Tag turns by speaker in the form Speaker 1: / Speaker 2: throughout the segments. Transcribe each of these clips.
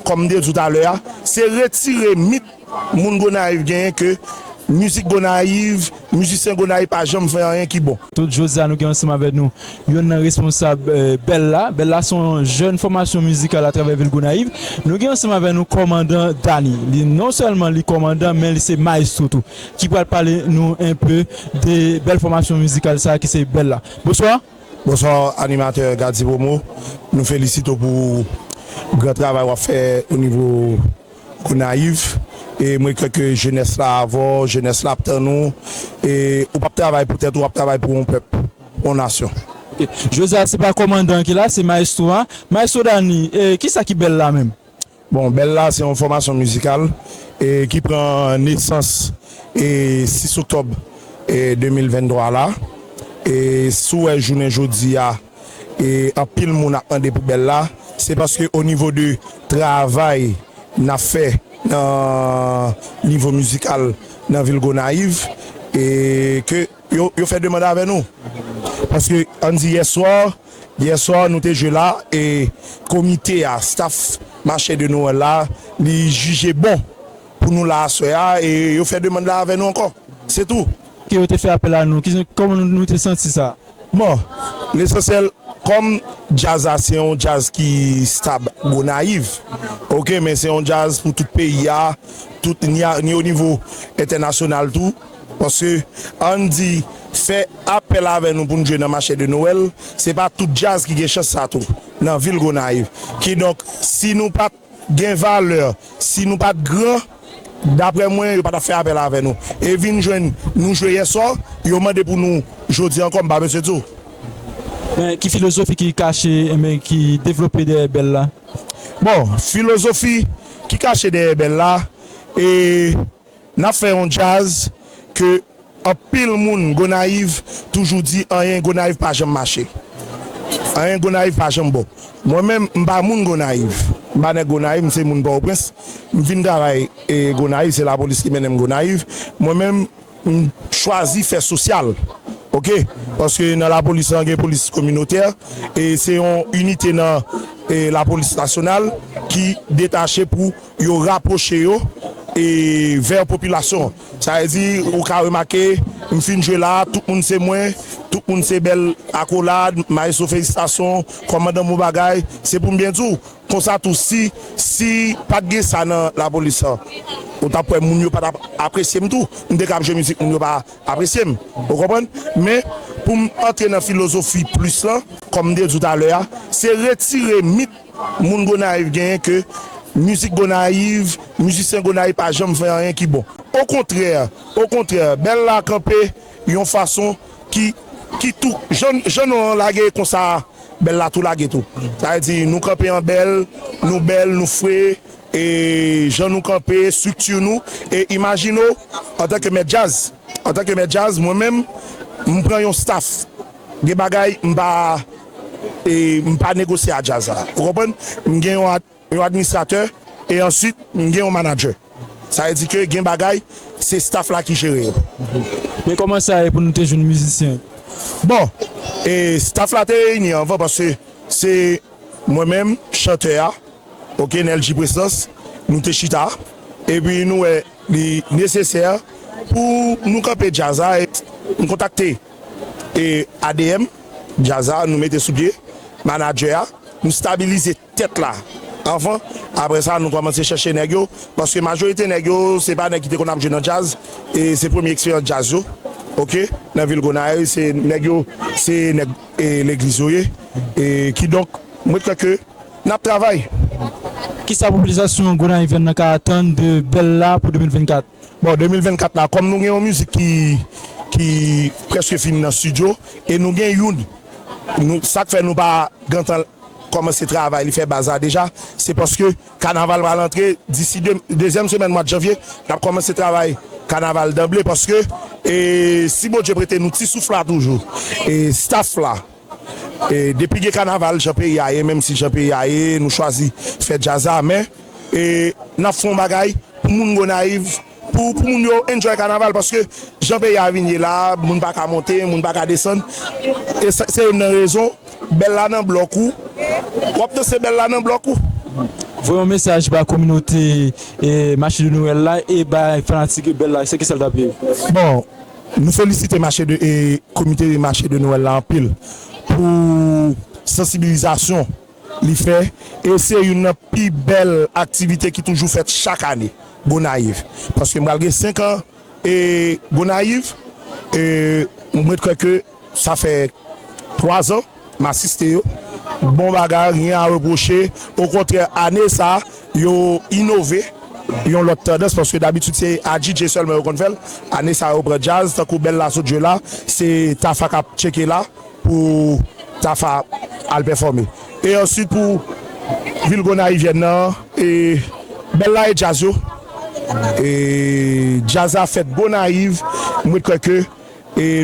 Speaker 1: Kòm m te di w talè a, se retire mit moun Gonayiv genyen ke mizik Gonayiv, mizisyen Gonayiv pa janm fè anyen ki bon. Tout jodi a nou gen ansanm
Speaker 2: avè nou yonn nan responsab Bella. Bella se yon jèn fòmasyon mizikal atravè vil Gonayiv. Nou gen ansanm avè nou kòmandan Dany. Li non sèlman li kòmandan men li se maestro tou ki pral pale nou enpe de bèl fòmasyon mizikal sa ki se Bella. Bonswa! Bonsoir
Speaker 1: animateur Gadji Promo nou felisite w pou gran travay wap fè o nivo Gonayiv e mwen kwè ke jenès la avè w jenès la ap tann ou e ou pap travay pou tèt ou wap travay pou yon pèp yon nasyon. Ok, jodi a
Speaker 2: se pa kòmandan an ki la se maestro a, maestro Dany e kisa ki bèl la menm? Bon Bèl la
Speaker 1: se yon fòmasyon mizikal ki pran nesans 6 oktòb 2023 la. Si w wè jounen jodi a anpil moun ap mande pou Bèl la se paske o nivo de travay n ap fè nan nivo mizikal nan vil Gonayiv ke Yo fè demand avè nou paske ann di yè swa, yè swa nou te jwe la e komite a, staff mache de Noël la li jije bon pou nou la aswè a e yo fè demand la avè nou ankò. Se tou. Ke yo te fè apèl a
Speaker 2: nou. Kòman nou te santi sa? Bon,
Speaker 1: lesansyèl kòm djaz la se yon djaz ki stab Gonayiv ok men se yon djaz pou tout peyi a, tout ni a ni o nivo entènasyonal tou. Paske ann di fè apèl avè nou pou n jwe nan mache de Noël, se pa tout djaz ki gen chans sa tou nan vil Gonayiv. Kidonk si nou pat gen valè, si nou pat gran, daprè mwen yo pa tap fè apèl avè nou. E vin jwenn nou jwe yèswa, yo mande pou nou jodi ankò m pa mesye di w. Men
Speaker 2: ki filozofi ki kache men ki devlope dèyè bèl la? Bon,
Speaker 1: filozofi ki kache dèyè bèl la e. Nap fè yon djaz ke anpil moun Gonayiv toujou di anyen Gonayiv pa janm mache. Anyen Gonayiv pa janm bon. Mwen menm m pa moun Gonayiv. M pa nèg Gonayiv, m se moun Pòtoprens. M vin travay Gonayiv, se lapolis ki mennen m Gonayiv. Mwen menm m chwazi fè sosyal ok. Paske nan lapolis lan gen polis kominotè e se yon inite nan lapolis nasyonal ki detache pou. Yo rapwoche yo vè popilasyon an. Sa vle di, ou ka remake, m fin jwe la a, tout moun se mwen, tout moun se bèl akolad, Maestro felisitasyon, kòmandan bon bagay. Se pou m byen di w, konsa tou si si pa t gen sa nan lapolis lan, ou t ap wè moun yo pa t ap apresye m tou. M te ka ap jwe mizik moun yo pa apresye m, ou konprann. Men, pou m antre nan filozofi plis lan, kòm m te di w talè a, se retire mit Moun Gonayiv genyen ke mizik Gonayiv, mizisyen Gonayiv pa janm fè anyen ki bon. Okontrè, okontrè, Bèl la kanpe yon fason ki, ki tou, jan, jan non an lage konsa a, Bèl la tou lage tou. Sa vle di nou kanpe an bèl, nou bèl, nou fre, e jan nou kanpe, estrikti nou, e imajine w antanke mèt djaz, antanke mèt djaz, mwen menm, m pran yon staf. Gen bagay m pa m pa negosye a djaz la ou konprann m gen yon yon administratè e answit m gen yon manadjè sa vle di ke gen bagay se staff la ki jere yo. E kòman
Speaker 2: sa ye pou nou te jwenn mizisyen yo? Bon
Speaker 1: e staff la te reyini anvan paske se mwen menm chantè a ok Neldjy Presans nou te chita epi nou wè li nesesè pou nou kanpe djaz la e m kontakte E adm djaz la nou mete sou pye manadjè a nou stabilize tèt la anvan aprè sa nou kòmanse chèche nèg yo paske majorite nèg yo se pa nèg ki te konn ap jwe nan djaz e se premye eksperyans djaz yo ok nan vil Gonayiv se nèg yo se nèg legliz yo ye e kidonk mwen kwè ke nap travay. Kisa
Speaker 2: popilasyon Gonayivyèn nan ka atann de Bella pou 2024? Bon 2024
Speaker 1: la kòm nou gen yon mizik ki ki prèske fini nan studio e nou gen youn nou sak fè nou pa gentan kòmanse travay li fè baz la deja se paske kanaval pral antre disi dezyèm semèn mwad janvye nap kòmanse travay kanaval danble paske e si Bondye prete nou ti souf la toujou e staff la. Depi gen kanaval jan peyi a ye menm si jan peyi a ye nou chwazi fè djaz la men nap fè yon bagay pou moun gonayiv pou moun yo enjoy kanaval paske jan peyi a vin ye la moun pa ka monte moun pa ka desann e se youn nan rezon bèl la nan blòk ou wap danse bèl la nan blòk ou. Voye yon
Speaker 2: mesaj ba kominote mache de noel la e bay fanatik bèl la se kisa l tap ye? Bon.
Speaker 1: Nou felisite mache de komite mache de Noël la anpil pou sansibilizasyon li fè e se youn nan pi bèl aktivite ki toujou fèt chak ane Gonayiv paske m pral gen 5 an Gonayiv e m ret kwè ke Sa fè 3 zan m asiste yo. Bon bagay, ryen a repwoche. Okontrè, ane sa a, yo inove yon lòt tandans paske dabitid se adjidje sèlman yo konn fè l. Ane sa a, yo pran djaz tankou Bella sot jwe la, se Tafa k ap tcheke la pou Tafa al pèfòme. E ansuit pou vil Gonayivyèn nan, e Bella e djaz yo. E djaz la fèt Gonayiv, m ret kwè ke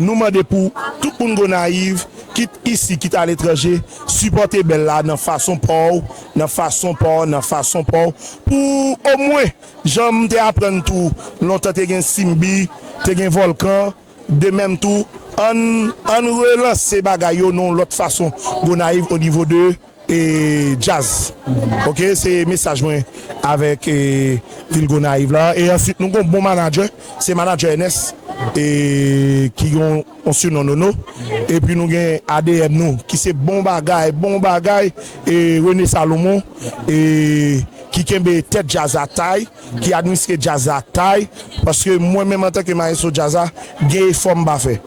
Speaker 1: Nou mande pou tout moun Gonayiv, kit isi kit aletranje, sipòte Bèl la nan fason pa w, nan fason pa w, nan fason pa w, pou omwen, jan m te aprann tou, lontan te gen Simbi, te gen Vòlkan, de menm tou, ann relanse bagay yo nan yon lòt fason Gonayiv onivo de. E djaz ok se mesaj mwen avek vil gonayiv la e answit nou gon bon manadjè se manadjè ènès e ki gen yon sinon nono epi nou gen adm nou ki se bon bagay bon bagay e rene salomon e ki kenbe tèt djaz la tay ki administre djaz la tay paske mwen menm antanke maestro djaz la gen efò m pa fè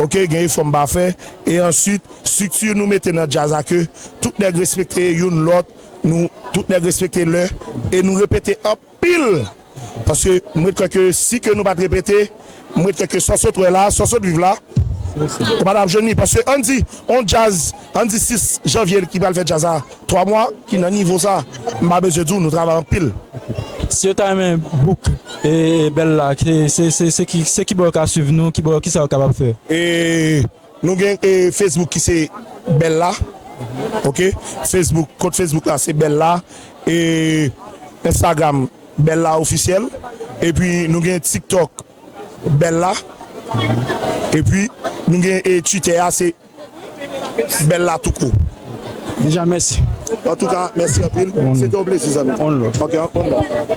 Speaker 1: ok gen efò m pa fè e answit. Structure nou mete nan jazz la ke tout nèg respekte youn lòt nou tout nèg respekte lè e nou repete anpil paske m ret kwè ke si ke nou pat repete m ret kwè ke sa w sot wè la sa w sot viv la ou pa tap jwenn li paske ann di on jazz ann di 6 janvier ki pral fè jazz la 3 mwa ki nan nivo sa m pa bezwen di w nou travay anpil. Si yo ta
Speaker 2: renmen bouk e bèl la se ki bò yo ka swiv nou ki bò kisa yo kapab fè.
Speaker 1: Nou gen Facebook ki se bella ok Facebook kont Facebook la se bella e Instagram bella officiel epi nou gen tiktok bella epi nou gen twitter a se bella tou kout. Deja mèsi.
Speaker 2: Antouka
Speaker 1: mèsi anpil se te yon plezi zanmim ok anpl.